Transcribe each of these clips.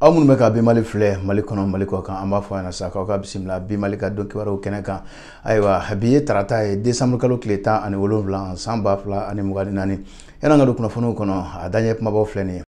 aw minnu bɛ ka bi mali filɛ mali kɔnɔ mali kɔ kan an b'a fɔ a ɲɛna sa k'aw ka bisimila bi mali ka don kibaruw kɛnɛ kan ayiwa bi ye tarata ye desanburu kalo tile tan ani wolonwula san ba fila ani mugan ni naani yann'an ka don kunnafoniw kɔnɔ a daɲɛ kunbabaw filɛ nin ye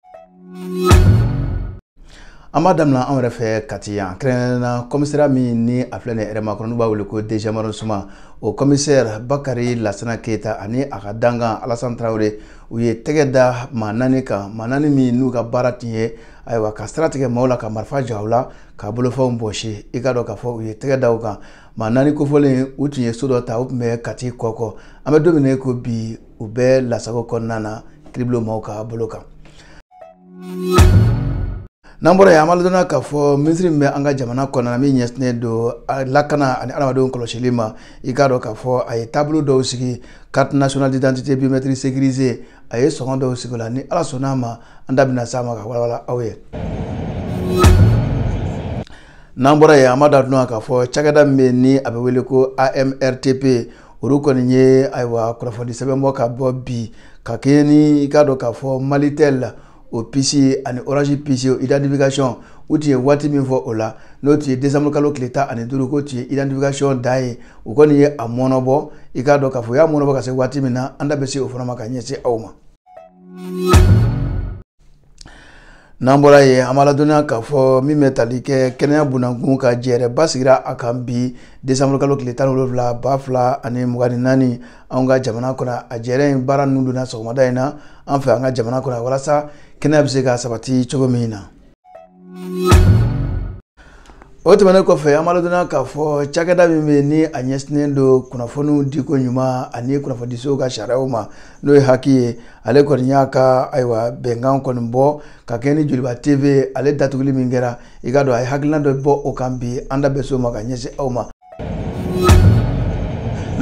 an b'a daminɛ anw yɛrɛ fɛ kati yan kɛrɛnkɛrɛnna kɔmisariya min ni a filɛ nin yɛrɛma kɔnɔ n'u b'a wele ko deuxième arrondissement o kɔmisɛri bakari lasana keyita ani a ka dankan alasan tarawele u ye tɛgɛ da maa naani kan maa naani min n'u ka baara tun ye ayiwa ka sira tigɛ maaw la ka marifa ja u la ka bolofɛnw bɔsi i k'a dɔn k'a fɔ u ye tɛgɛ da u kan maa naani kofɔlen u tun ye so dɔ ta u tun bɛ kati kɔkɔ an bɛ don min ko bi u bɛɛ lasago kɔnɔna na kiiribulon maaw ka bolo kan n'an bɔra yen an b'a ladɔnniya k'a fɔ minisiri min bɛ an ka jamana kɔnɔna min ɲɛsinnen don lakana ani adamadenw kɔlɔsili ma i k'a dɔn k'a fɔ a ye taabolo dɔw sigi carte nationale d'identité biométrique sécurisée a ye sɔngɔ dɔw sigi o la ni ala sɔnn'a ma an da bɛna s'a ma ka walawala aw ye n'an bɔra yen an b'a ladɔnniya k'a fɔ cakɛda min bɛ yen ni a bɛ wele ko amrtp olu kɔni ye ayiwa kunnafonidi sɛbɛn bɔ ka bɔ bi ka kɛɲɛ ni i k'a dɔn k'a fɔ malitel o puce ani orange puce o identification u tun ye waati min fɔ o la n'o tun ye décembre kalo tile tan ani duuru k'o tun ye identification da ye u kɔni ye a mɔnɔbɔ i k'a dɔn k'a fɔ u y'a mɔnɔbɔ ka se waati min na an da bɛ se o fana ma ka ɲɛsin aw ma n'an bɔra yen an b'a ladɔnniya k'a fɔ min bɛ tali kɛ kɛnɛya bunankun ka jɛɛrɛba sigira a kan bi desanburu kalo tile tan ni wolonwula ba fila ani mugan ni naani an ka jamana kɔnɔ a jɛɛrɛ in baara ninnu donna sɔgɔmada in na an fɛ an ka jamana kɔnɔ walasa kɛnɛya bɛ se ka sabati cogo min na o tɛmɛnen kɔfɛ an b'a ladɔnniya k'a fɔ cakɛda min bɛ yen ni a ɲɛsinnen don kunnafoniw diko ɲuman ani kunnafonidisow ka sariyaw ma n'o ye hac ye ale kɔni y'a ka ayiwa bɛnkan kɔni bɔ ka kɛɲɛ ni joliba tv ale datuguli min kɛra i k'a dɔn a ye hakilina dɔ bɔ o kan bi an da bɛ s'o ma ka ɲɛsin aw ma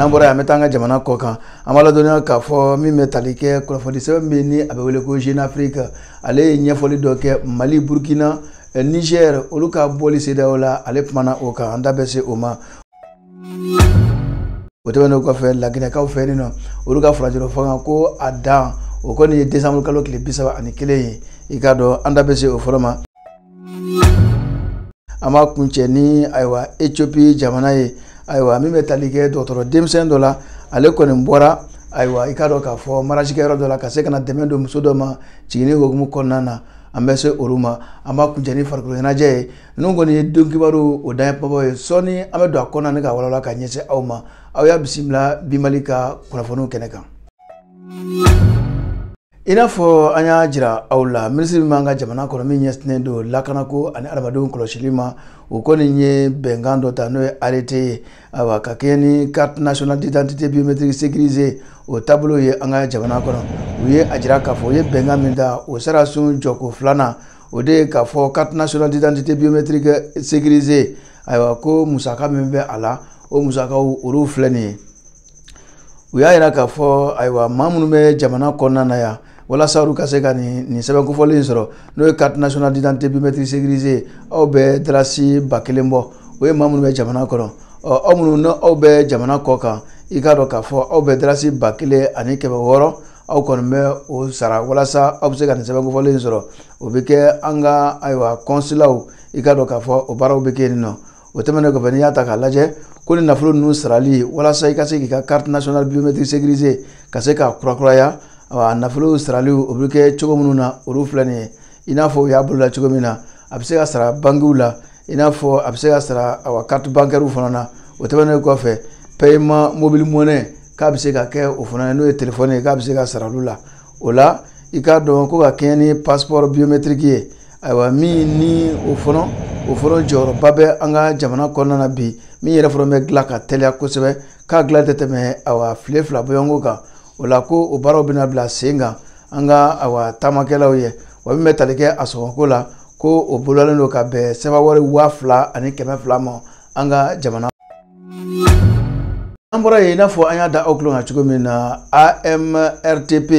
n'an bɔra yen an bɛ taa an ka jamana kɔ kan an b'a ladɔnniya k'a fɔ min bɛ tali kɛ kunnafonidi sɛbɛn min ni a bɛ wele ko jeune afrique ale ye ɲɛfɔli dɔ kɛ mali burkina eh, niger olu ka bɔli cedeao la ale kumana o kan an da bɛ se o ma o tɛmɛnen kɔfɛ laginɛkaw fɛ nin nɔ olu ka furancɛrɔ fanga ko a dan o kɔni ye desanburu kalo tile bi saba ani kelen ye i k'a dɔn an da bɛ se o fana ma an b'a kuncɛ ni ayiwa ethiopie jamana ye ayiwa min bɛ tali kɛ dɔgɔtɔrɔ denmisɛn dɔ la ale kɔni bɔra ayiwa i k'a dɔn k'a fɔ mariage kɛyɔrɔ dɔ la ka se ka na dɛmɛ don muso dɔ ma jiginni hokumu kɔnɔna na an bɛ se olu ma an b'a kuncɛ ni farikolo ɲɛnajɛ ye ninnu kɔni ye don kibaruw daɲɛ babaw ye sɔɔni an bɛ don a kɔnɔna ni k'a walawala ka ɲɛsin aw ma aw y'a bisimila bi mali ka kunnafoniw kɛnɛ kan i n'a fɔ an y'a jira aw la minisiri min b'an ka jamana kɔnɔ min ɲɛsinnen don lakanako ani adamadenw kɔlɔsili ma o kɔni ye bɛnkan dɔ ta n'o ye arrêté ye ayiwa ka kɛɲɛ ni carte nationale d'identité biométrique sécurisée o taabolo ye an ka jamana kɔnɔ u ye a jira k'a fɔ u ye bɛnkan min ta o sariyasun jɔko filanan o de ye k'a fɔ carte nationale d'identité biométrique sécurisée ayiwa ko musaka min bɛ a la o musakaw olu filɛ nin ye u y'a jira k'a fɔ ayiwa maa minnu bɛ jamana kɔnɔna na yan walasa olu ka se ka nin nin sɛbɛn kofɔlen in sɔrɔ n'o ye carte nationale d'identité biométrique sécurisée aw bɛ darasi ba kelen bɔ o ye maa minnu bɛ jamana kɔnɔ ɔ aw minnu ni aw bɛ jamana kɔ kan i k'a dɔn k'a fɔ aw bɛ darasi ba kelen ani kɛmɛ wɔɔrɔ aw kɔni bɛ o sara walasa aw bɛ se ka nin sɛbɛn kofɔlen in sɔrɔ o bɛ kɛ an ka ayiwa kɔnsilaw i k'a dɔn k'a fɔ o baaraw bɛ kɛ yen nɔ o tɛmɛnen kɔfɛ n'i y'a ta k'a lajɛ ko nin nafolo ninnu sarali walasa i ka se k'i ka carte nationale biométrique sécurisée ka se k'a kurakuraya a nafolo sarali o bɛ kɛ cogo minnu na olu filɛ nin ye i n'a fɔ u y'a boloda cogo min na a bɛ se ka sara bankiw la i n'a fɔ a bɛ se ka sara awa carte bancaire fana na o tɛmɛnen kɔfɛ paiement mobile money k'a bɛ se ka kɛ o fana na n'o ye telefɔni ye k'a bɛ se ka sara olu la o la i k'a dɔn ko ka kɛɲɛ ni passeport biométrique ye ayiwa min ni o fana o fana jɔyɔrɔba bɛ an ka jamana kɔnɔna na bi min yɛrɛ fana bɛ dilan ka teliya kosɛbɛ k'a dilan tɛ tɛmɛ awa tile fila bɔɲɔgɔnko kan o la ko o baaraw bɛna bila sen kan an ka awa taamakɛlaw ye wa min bɛ tali kɛ a sɔngɔko la ko o bolodalen don ka bɛn sefawari waa fila ani kɛmɛ fila ma an ka jamana an bɔra yen i n'a fɔ an y'a da aw tulo kan cogo min na amrtp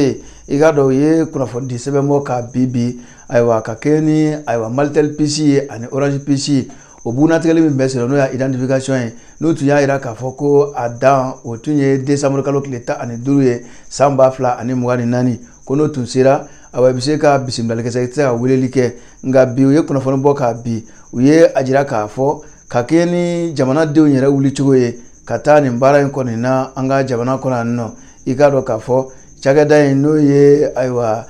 i k'a dɔn u ye kunnafonidi sɛbɛn bɔ kabi bi ayiwa ka kɛɲɛ ni ayiwa malitel puce ye ani orange puce o bugunnatigɛli min bɛ senna n'o y'a identification ye n'u tun y'a jira k'a fɔ ko a dan o tun ye desanburu kalo tile tan ani duuru ye san ba fila ani mugan ni naani ko n'o tun sera awa i bɛ se ka bisimilali kɛ i tɛ se ka weleli kɛ nka bi u ye kunnafoni bɔ ka bi u ye a jira k'a fɔ ka kɛɲɛ ni jamanadenw yɛrɛ wulicogo ye ka taa nin baara in kɔni na an ka jamana kɔnɔ yan nɔ i k'a dɔn k'a fɔ cakɛda in n'o ye ayiwa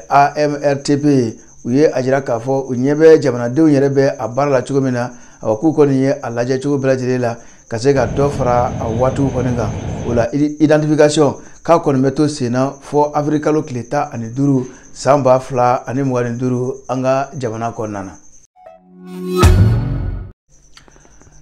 amrtp ye u ye a jira k'a fɔ u ɲɛ bɛ jamanadenw yɛrɛ bɛ a baara la cogo min na awa k'u kɔni ye a lajɛ cogo bɛɛ lajɛlen la ka se ka dɔ fara a waatiw kɔni kan o la identification k'a kɔni bɛ to sen na fo avril kalo tile tan ani duuru san ba fila ani mugan ni duuru an ka jamana kɔnɔna na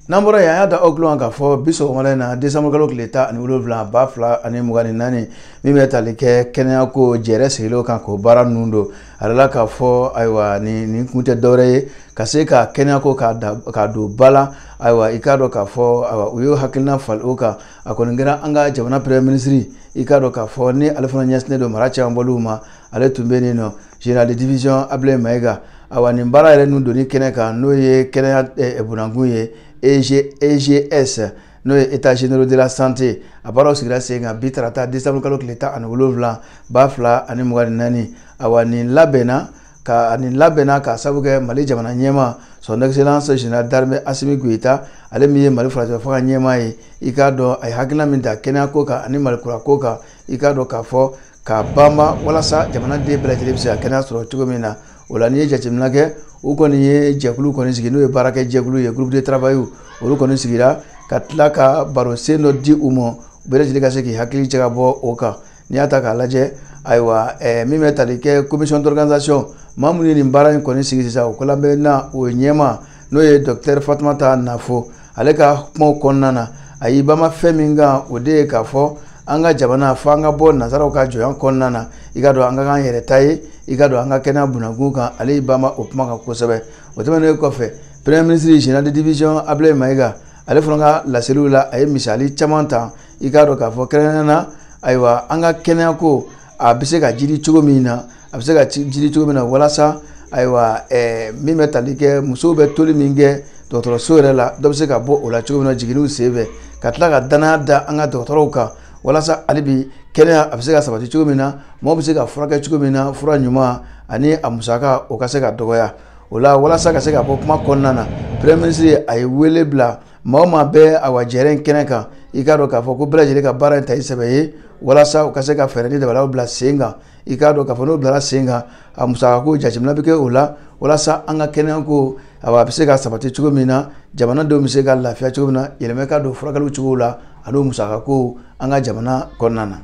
n'an bɔra yen an y'a da aw tulo kan k'a fɔ bi sɔgɔmada in na desanburukalo tile tan ani wolonwula ba fila ani mugan ni naani min bɛ tali kɛ kɛnɛyako jɛrɛ sigilenw kan k'o baara ninnu don a da la k'a fɔ ayiwa nin nin kun tɛ dɔwɛrɛ ye ka se ka kɛnɛyako k'a da k'a don ba la ayiwa i k'a dɔn k'a fɔ ayiwa u y'o hakilina falen o kan a kɔni kɛra an ka jamana premier ministre i k'a dɔn k'a fɔ ni ale fana ɲɛsinnen don mara cɛmabɔliw ma ale tun bɛ nin nɔ Général de division Ablaye Maïga awa nin baara yɛrɛ ninnu donni kɛnɛ kan n'o ye kɛnɛya eh, eh, bunakun ye EGS e n'o ye états généraux de la santé a baaraw sigira sen kan bi tarata décembre kalo tile tan ani wolonwula ba fila ani mugan ni naani awa nin labɛnna ka nin labɛnna ka sabu kɛ mali jamana ɲɛmaa son excellence général d'armée asimi goyita ale min ye mali furancɛ fanga ɲɛmaa ye i k'a dɔn a ye hakilina min ta kɛnɛyako kan ani mali kurako kan i k'a dɔn k'a fɔ K'a banba walasa jamanaden bɛɛ lajɛlen bɛ se ka kɛnɛya sɔrɔ cogo min na o la n'i ye jateminɛ kɛ u kɔni ye jɛkulu kɔni sigi n'o ye baarakɛ jɛkulu ye groupe de travail olu kɔni sigira ka tila ka barosen dɔ di u ma bɛɛ lajɛlen ka se k'i hakili cɛ ka bɔ o kan n'i y'a ta k'a lajɛ ayiwa eh, min bɛ tali kɛ commission d'organisation maa minnu ye nin baara in kɔni sigi sisan o kolabɛnna o ɲɛmaa n'o ye docteur fatumata nafo ale ka kumaw kɔnɔna na a y'i banba fɛn min kan o de ye k'a fɔ an ka jamana fo an ka bɔ nazaraw ka jɔnya kɔnɔna na i k'a dɔn an ka k'an yɛrɛ ta ye i k'a dɔn an ka kɛnɛya bunakun kan ale y'i banba o kuma kan kosɛbɛ o tɛmɛnen kɔfɛ premier ministre général de division ablaye mayiga ale fana ka laseliw la a ye misali caman ta i k'a dɔn k'a fɔ kɛrɛnkɛrɛnnenya na ayiwa an ka kɛnɛyako a bɛ se ka jiidi cogo min na a bɛ se ka jiidi cogo min na walasa ayiwa eh, min bɛ tali kɛ musow bɛ toli min kɛ dɔgɔtɔrɔso yɛrɛ la dɔ bɛ se ka bɔ o la cogo min na jiginniw senfɛ ka tila ka dannaya da an ka dɔgɔtɔrɔw kan walasa hali bi kɛnɛya a bɛ se ka sabati cogo min na mɔgɔ bɛ se ka furakɛ cogo min na fura ɲuman ani a musaka o ka se ka dɔgɔya o la walasa ka se ka bɔ kuma kɔnɔna na premier ministre a ye wele bila maa o maa bɛ awa jɛrɛ in kɛnɛ kan i k'a dɔn k'a fɔ ko bɛɛ lajɛlen ka baara in ta i sɛbɛ ye walasa u ka se ka fɛɛrɛ ni dabalaw bila sen kan i k'a dɔn k'a fɔ n'o bilara sen kan a musakako jateminɛ bɛ kɛ o la walasa an ka kɛnɛyako a bɛ se ka sabati cogo min na jamanadenw bɛ se ka lafiya cogo min na yɛlɛmɛ ka don furakɛliw cogo la ani musakako an ka jamana kɔnɔna na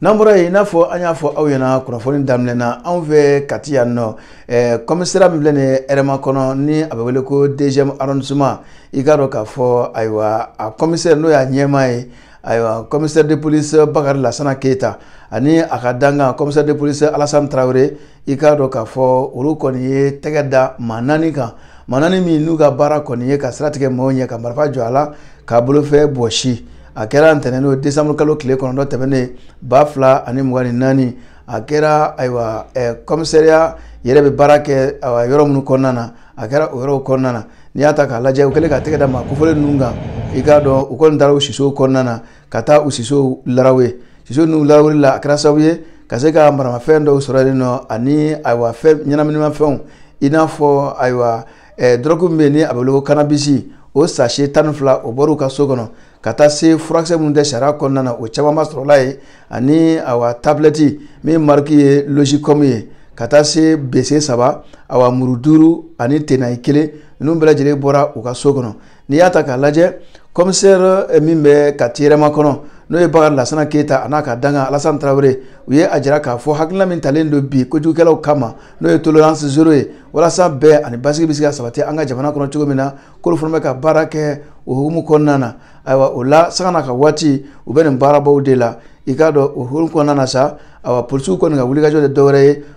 n'an bɔra yen i n'a fɔ an y'a fɔ aw ɲɛna kunnafoni daminɛ na anw fɛ kati yan nɔ ɛɛ kɔmisariya min filɛ nin ye hɛrɛmakɔnɔ ni a bɛ wele ko deuxième arrondissement i k'a dɔn k'a fɔ ayiwa a kɔmisɛri n'o y'a ɲɛmaa ye ayiwa commissaire de police bakari lasana keyita ani a ka dankan commissaire de police alasani tarawele i k'a dɔn k'a fɔ olu kɔni ye tɛgɛ da maa naani kan maa naani min n'u ka baara kɔni ye ka sira tigɛ maaw ɲɛ ka marifa jɔ a la k'a bolofɛn bɔsi a kɛra ntɛnɛn n'o desanburu kalo tile kɔnɔntɔn tɛmɛnen ba fila ani mugan ni naani a kɛra ayiwa kɔmisariya yɛrɛ bɛ baara kɛ yɔrɔ minnu kɔnɔna na a kɛra o yɔrɔw kɔnɔna na n'i y'a ta k'a lajɛ u kɛlen ka tɛgɛ da maa kofɔlen ninnu kan i k'a dɔn u kɔni taara u sisow kɔnɔna na ka taa u sisow larawe siso ninnu larawuli la a kɛra sababu ye ka se ka maramafɛn dɔw sɔrɔ yen nɔ ani ayiwa fɛn ɲɛnaminimafɛnw i n'a fɔ ayiwa Eh, dɔrɔgu min bɛ yen ni a bɛ wele ko kanabisi o sachet tan ni fila o bɔr'u ka so kɔnɔ ka taa se furakisɛ minnu tɛ sariya kɔnɔna na o camanba sɔrɔla yen ani awa tabilɛti min mariki ye logicom ye ka taa se bese saba awa muru duuru ani tenayi kelen ninnu bɛɛ lajɛlen bɔra u ka so kɔnɔ n'i y'a ta k'a lajɛ commissaire eh, min bɛ kati hɛrɛmakɔnɔ n'o ye bakari lasana keyita a n'a ka dankan alasan tarawele u ye a jira k'a fɔ hakilina min talen don bi kojugukɛlaw kama n'o ye tolerance zero ye walasa bɛn ani basigi bɛ se ka sabati an ka jamana kɔnɔ cogo min na k'olu fana bɛ ka baara kɛ o hukumu kɔnɔna na ayiwa o la sanga n'a ka waati u bɛ nin baarabaw de la i k'a dɔn o hukumu kɔnɔna na sa ayiwa polisiw kɔni ka wulikajɔ tɛ dɔwɛrɛ ye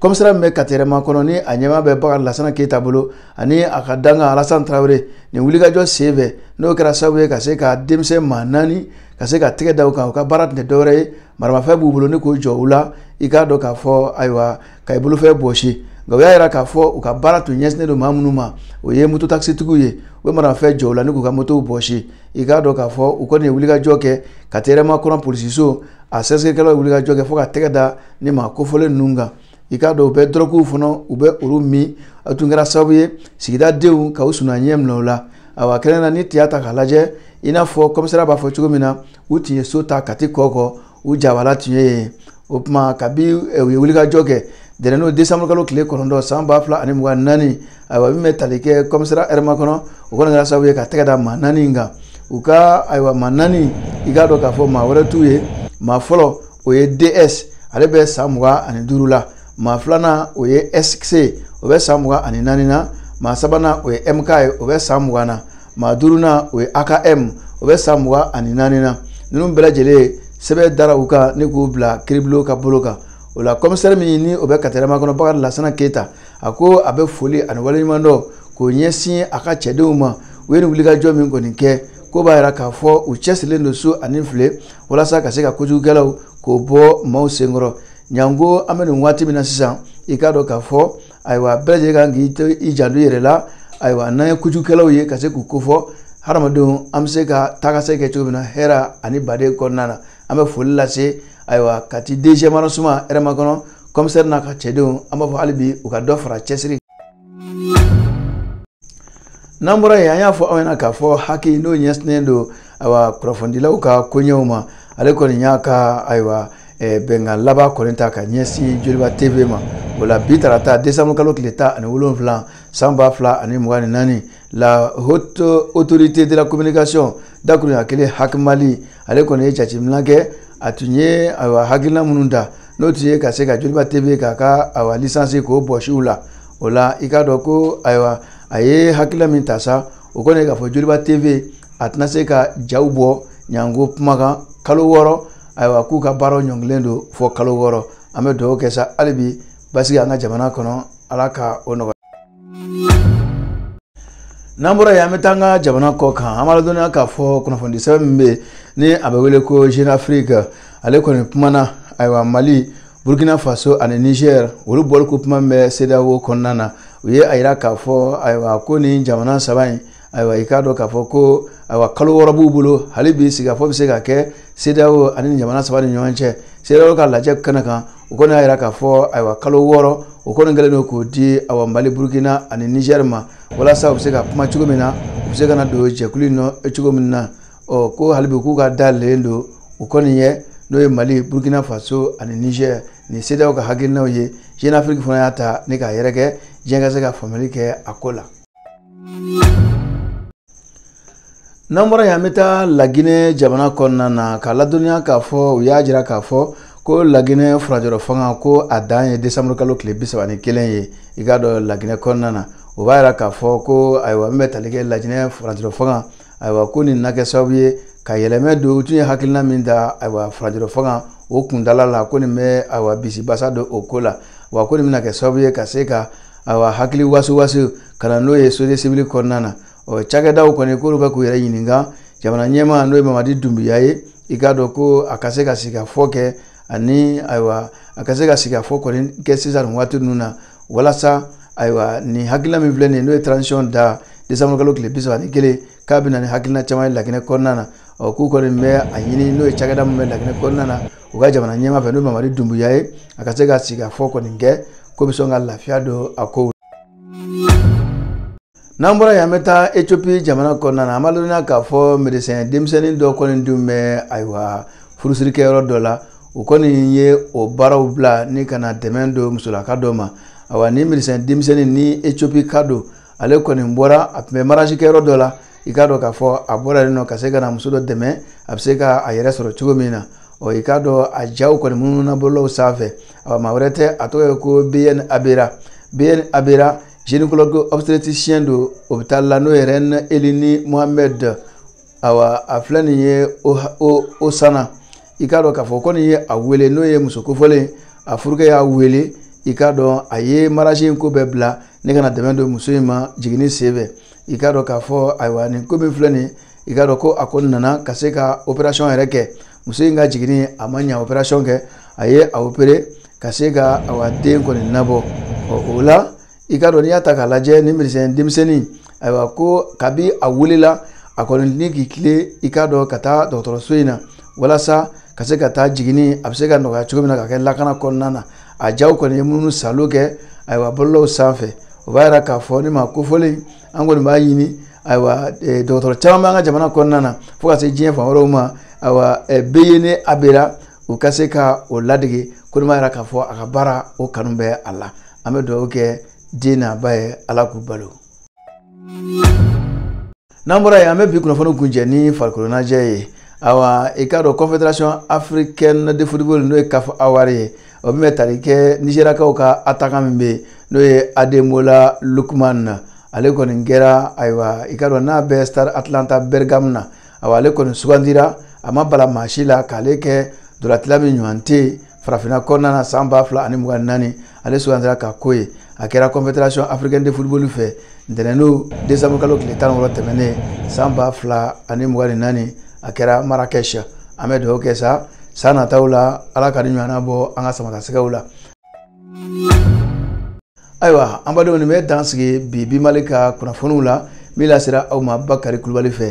kɔmisariya min bɛ kati hɛrɛmakɔnɔ ni a ɲɛmaa bɛ bakari lasana keyita bolo ani a ka dankan alasan tarawele nin wulikajɔ sen fɛ n'o kɛra sababu ye ka se ka denmisɛn maa naani ka se ka tɛgɛ da u kan u ka baara tun tɛ dɔwɛrɛ ye maramafɛn b'u bolo ni k'o jɔ u la i k'a dɔn k'a fɔ ayiwa ka i bolofɛn bɔsi nka u y'a jira k'a fɔ u ka baara tun ɲɛsinnen don maa minnu ma o ye moto takisitigiw ye u bɛ maramafɛn jɔ u la ni k'u ka motow bɔsi i k'a dɔn k'a fɔ u kɔni ye wulikajɔ kɛ kati hɛrɛmakɔnɔ polisiso a sɛgɛsɛgɛkɛlaw ye wulikajɔ kɛ fo ka tɛgɛ da nin maa kofɔlen ninnu kan i k'a dɔn u bɛ dɔrɔguw fana u bɛ olu min a tun kɛra sababu ye sigida denw ka u suna ɲɛ minɛ u la awa kɛnɛ na n'i y'a ta k'a lajɛ i n'a fɔ kɔmisariya b'a fɔ cogo min na u tun ye so ta kati kɔkɔ u jabala tun ye yen o tuma kabi u ye wulikajɔ kɛ ntɛnɛn n'o desanburu kalo tile kɔnɔntɔn san ba fila ani mugan naani ayiwa min bɛ tali kɛ kɔmisariya hɛrɛmakɔnɔ o kɔni kɛra sababu ye ka tɛgɛ da maa naani in kan u ka ayiwa maa naani i k'a dɔn k'a fɔ maa wɛrɛ t'u ye maa fɔlɔ o ye ds ale bɛ san mugan ani duuru la maa filanan o ye sc o bɛ san mugan ani naani na maa sabanan o ye mk ye o bɛ san mugan na maa duurunan o ye akm o bɛ san mugan ani naani na ninnu bɛɛ lajɛlen sɛbɛn dara u kan ni k'u bila kiiribulon ka bolo kan o la kɔmisɛri min ni o bɛ kati hɛrɛmakɔnɔ bakari lasana keyita a ko a bɛ foli ani waleɲumandɔn k'o ɲɛsin a ka cɛdenw ma u ye nin wulikajɔ min kɔni kɛ ko b'a jira k'a fɔ u cɛsirilen don su ani tile walasa ka se ka kojugukɛlaw k'o bɔ maaw senkɔrɔ ɲango an bɛ nin waati min na sisan i k'a dɔn k'a fɔ ayiwa bɛɛ lajɛlen kan k'i janto i yɛrɛ la ayiwa n'an ye kojugukɛlaw ye ka se k'u kofɔ hadamadenw an bɛ se ka taakasegin kɛ cogo min na hɛrɛ ani baden kɔnɔna na an bɛ foli lase ayiwa kati deuxième arrondissement hɛrɛmakɔnɔ kɔmisɛri n'a ka cɛdenw an b'a fɔ hali bi u ka dɔ fara cɛsiri n'an bɔra yen an y'a fɔ aw ɲɛna k'a fɔ HAC n'o ɲɛsinnen don ayiwa kunnafonidilaw ka koɲɛw ma ale kɔni y'a ka ayiwa eh, bɛnkan laban kɔni ta ka ɲɛsin joliba tv ma o la bi tarata desanburukalo tile tan ani wolonwula san ba fila ani mugan ni naani la haute autorité de la communication dakurunya kɛlen HAC mali ale kɔni ye jateminɛ kɛ a tun ye ayiwa hakilina minnu ta n'o tun ye ka se ka joliba tv k'a ka ayiwa lisansi k'o bɔsi u la o la i k'a dɔn ko ayiwa a ye hakilina min ta sa o kɔni ye k'a fɔ joliba tv a tɛna se ka jaw bɔ ɲango kumakan kalo wɔɔrɔ ayiwa k'u ka baaraw ɲɔngirilen don fɔ kalo wɔɔrɔ an bɛ dugawu kɛ sa hali bi basigi an ka jamana kɔnɔ ala ka o nɔgɔya n'an bɔra yen an bɛ taa an ka jamana kɔ kan an b'a ladɔnniya k'a fɔ kunnafoni sɛbɛn min bɛ yen ni a bɛ wele ko jeune afrique ale kɔni kumana ayiwa mali burkina faso ani niger olu bɔliko kuma min bɛ cedeao kɔnɔna na u ye a yira k'a fɔ ayiwa ko nin jamana saba in ayiwa i k'a dɔn k'a fɔ ko ayiwa kalo wɔɔrɔ b'u bolo hali bi sigikafɔ bɛ se ka kɛ CEDEAO ani jamana saba ni ɲɔgɔn cɛ CEDEAO ka lajɛ kɛnɛ kan o kɔni y'a jira k'a fɔ ayiwa kalo wɔɔrɔ o kɔni kɛlen don k'o di awa Mali Burukina ani Nizɛri ma walasa u bɛ se ka kuma cogo min na u bɛ se ka na don jɛkulu in nɔ cogo min na ɔ ko hali bi k'u ka da yɛlɛlen don u kɔni ye n'o ye Mali Burukina Faso ani Nizɛri nin CEDEAO ka hakilinaw ye Jeune Afrique fana y'a ta ni k'a yɛrɛkɛ diɲɛ ka se ka faamuyali kɛ a ko la. n'an bɔra yen an bɛ taa laginɛ jamana kɔnɔna na k'a ladɔnniya k'a fɔ u y'a jira k'a fɔ ko laginɛ furajɔrɔ fanga ko a dan ye desanburu kalo tile bi saba ni kelen ye i k'a dɔn laginɛ kɔnɔna na o b'a jira k'a fɔ ko ayiwa min bɛ tali kɛ laginɛ furajɔrɔ fanga ayiwa ko nin na kɛ sababu ye ka yɛlɛma don u tun ye hakilina min ta ayiwa furajɔrɔ fanga o kuntaala la ko nin bɛ ayiwa bisibasa don o ko la wa ko nin bɛna kɛ sababu ye ka se ka awa hakili wasiwasi ka na n'o ye société civile kɔnɔna na ɔ cakɛdaw kɔni k'olu ka k'u yɛrɛ ɲininka jamana ɲɛmaa n'o ye mamadi dunbuya ye i k'a dɔn ko a ka se ka sigikafɔ kɛ ani ayiwa a ka se ka sigikafɔ kɔni kɛ sisan nin waati ninnu na walasa ayiwa nin hakilina min filɛ nin ye n'o ye transition dan desanburukalo tile bi saba ni kelen k'a bɛ na ni hakilina caman ye laginɛ kɔnɔna na ɔ k'u kɔni bɛ a ɲini n'o ye cakɛda min bɛ laginɛ kɔnɔna na u ka jamana ɲɛmaa fɛ n'o ye mamadi dunbuya ye a ka se ka sigikafɔ kɔni kɛ ko bɛ sɔn ka lafiya don a kow n'an bɔra yen an bɛ taa ethiopie jamana kɔnɔna na an b'a ladɔnniya k'a fɔ medecin denmisɛnnin dɔ kɔni dun bɛ ayiwa furusirikɛyɔrɔ dɔ la u kɔni ye o baaraw bila ni ka na dɛmɛ don musolaka dɔ ma ayiwa ni medecin denmisɛnnin ni ethiopie ka don ale kɔni bɔra a tun bɛ mariage kɛyɔrɔ dɔ la i k'a dɔn k'a fɔ a bɔra yen nɔ ka se ka na muso dɔ dɛmɛ a bɛ se ka a yɛrɛ sɔrɔ cogo min na ɔ i k'a dɔn a jaw kɔni munumuna bɔlɔlɔw sanfɛ ɔ maa wɛrɛ tɛ a tɔgɔ ye ko beyene abera beyene abera gynécologue obstétricien don hôpital la n'o ye reine elini mohammed awa a filɛ nin ye o sanna i k'a dɔn k'a fɔ ko nin ye a wele n'o ye muso kofɔlen a furukɛ y'a wele i k'a dɔn a ye mariage in ko bɛɛ bila ni ka na dɛmɛ don muso in ma jiginni sen fɛ i k'a dɔn k'a fɔ ayiwa nin ko min filɛ nin i k'a dɔn ko a ko nana ka se ka operation yɛrɛ kɛ muso in ka jiginni a ma ɲa operation kɔ a ye a opere ka se ka awa den kɔni nabɔ ɔ o la i k'a dɔn n'i y'a ta k'a lajɛ ni medecin denmisɛnnin ayiwa ko kabi a wulila a kɔni ni k'i tilen i k'a dɔn ka taa dɔgɔtɔrɔso in na walasa ka se ka taa jiginni a bɛ se ka nɔgɔya cogo min na ka kɛ lakana kɔnɔna na a jaw kɔni ye minnu salo kɛ ayiwa bɔlɔlɔw sanfɛ o b'a yira k'a fɔ nin maa kofɔlen an kɔni b'a ɲini ayiwa e, dɔgɔtɔrɔ caman b'an ka jamana kɔnɔna na fo ka se diɲɛ fan wɛrɛw ma ayiwa e, beyene abera u ka se ka o ladege kɔni b'a yira k'a fɔ a ka baara o kanu bɛ a la an bɛ dugawu kɛ den n'a ba ye ala k'u balo n'an bɔra yen an bɛ bi kunnafoni kuncɛ ni farikoloɲɛnajɛ ye awa i k'a dɔn confederation africaine de football n'o ye caf awards ye o min bɛ tali kɛ nizeriyakaw ka attaquant min bɛ yen n'o ye ademola lookman ale kɔni kɛra ayiwa i k'a dɔn n'a bɛ star atlanta bergame na awa ale kɔni sugandira a ma bala maa si la k'ale kɛ ntolacila min ɲɔgɔn tɛ yen farafinna kɔnɔna na san ba fila ani mugan ni naani ale sugandira ka ko ye a kɛra confederation africaine de football fɛ ntɛnɛndon desanburu kalo tile tan ni wɔɔrɔ tɛmɛnen san ba fila ani mugan ni naani a kɛra marrakech an bɛ dugawu kɛ sa san nataw la ala ka nin ɲɔgɔnna bɔ an ka samatasɛgɛw la ayiwa an badenw nin bɛ dan sigi bi bi mali ka kunnafoniw la min lasera aw ma bakari kulubali fɛ